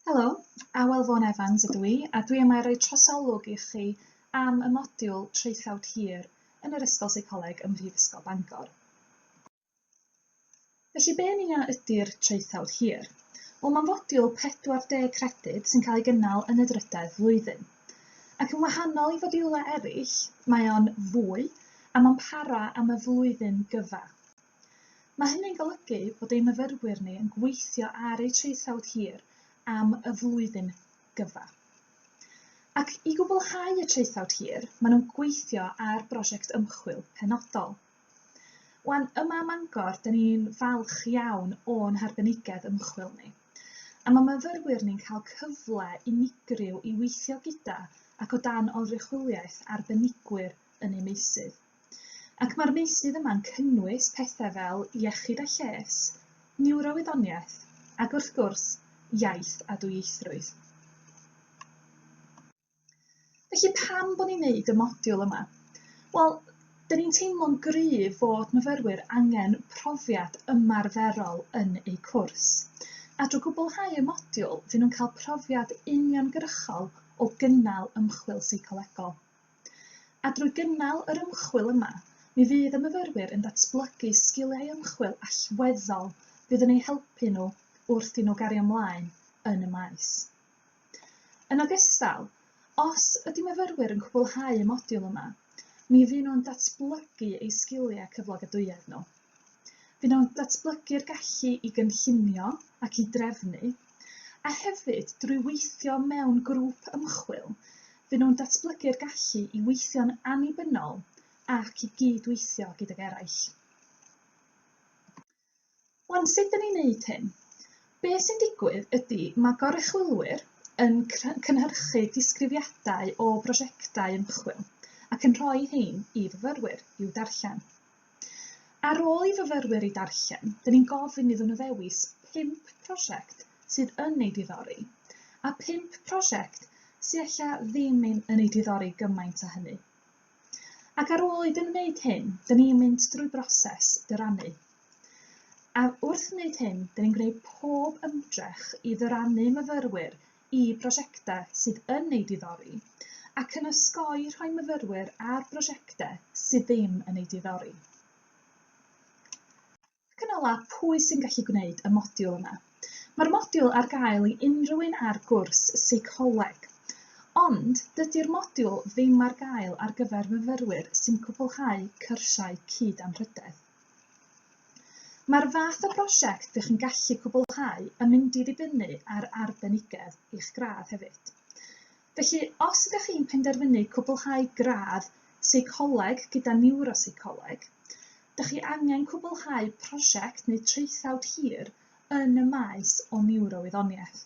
Helo, Awel Vaughan Evans ydw i, a dwi yma i roi trosolwg i chi am y modiwl traethawd hir yn yr Ysgol Seicoleg ym Mhrifysgol Bangor. Felly, be yn ia ydy'r traethawd hir? Wel, mae'n fodiwl 40 credyd sy'n cael ei gynnal yn y drydedd flwyddyn. Ac yn wahanol i fodiwlau eraill, mae o'n fwy a mae'n para am y flwyddyn gyfa. Mae hynny'n golygu bod ein myfyrwyr ni yn gweithio ar eu traethawd hir am y flwyddyn gyfa. Ac i gwblhau y traethawd hir, maen nhw'n gweithio ar brosiect ymchwil penodol. Wan, yma ym Mangor, dyn ni'n falch iawn o'n harbenigedd ymchwil ni. A mae myfyrwyr ni'n cael cyfle unigryw i weithio gyda ac o dan oruchwyliaeth arbenigwyr yn eu meysydd. Ac mae'r meysydd yma'n cynnwys pethau fel iechyd a lles, niwrowyddoniaeth ac wrth gwrs, iaith a dwyieithrwydd. Felly pam bod ni'n neud y modiwl yma? Wel, dyn ni'n teimlo'n gryf fod myfyrwyr angen profiad ymarferol yn eu cwrs. A drwy gwblhau y modiwl, dyn nhw'n cael profiad uniongyrchol o gynnal ymchwil seicolegol. A drwy gynnal yr ymchwil yma, mi fydd y myfyrwyr yn datblygu sgiliau ymchwil allweddol fydd yn eu helpu nhw wrth i nhw gario mlaen yn y maes. Yn ogystal, os ydy myfyrwyr yn cwblhau y modiwl yma, mi fy nhw'n datblygu eu sgiliau cyflogadwyedd nhw. Fe wnawn datblygu'r gallu i gynllunio ac i drefnu, a hefyd drwy weithio mewn grŵp ymchwil, fe wnawn datblygu'r gallu i weithio'n annibynnol ac i gyd-weithio gydag eraill. Wan, sut dyn ni'n neud hyn? Be sy'n digwydd ydy mae goruchwylwyr yn cynhyrchu disgrifiadau o brosiectau ymchwil ac yn rhoi hein i fyfyrwyr i'w darllen. Ar ôl i fyfyrwyr eu darllen, dyn ni'n gofyn iddyn nhw ddewis pump prosiect sydd yn eu diddori, a phump prosiect sy ella ddim yn eu diddori gymaint â hynny. Ac ar ôl iddyn nhw wneud hyn, dyn ni'n mynd drwy broses dyrannu. A wrth wneud hyn, dyn ni'n gwneud pob ymdrech i ddyrannu myfyrwyr i brosiectau sydd yn eu diddori ac yn osgoi rhoi myfyrwyr ar brosiectau sydd ddim yn eu diddori. Ac yn ola, pwy sy'n gallu gwneud y modiwl yma? Mae'r modiwl ar gael i unrhyw un ar gwrs seicoleg, ond dydy'r modiwl ddim ar gael ar gyfer myfyrwyr sy'n cwblhau cyrsiau cyd-anrhydedd. Mae'r fath o brosiect dych chi'n gallu cwblhau yn mynd i ddibynnu ar arbenigedd eich gradd hefyd. Felly, os ydych chi'n penderfynu cwblhau gradd seicoleg gyda niwroseicoleg, dych chi angen cwblhau prosiect neu traethawd hir yn y maes o niwrowyddoniaeth.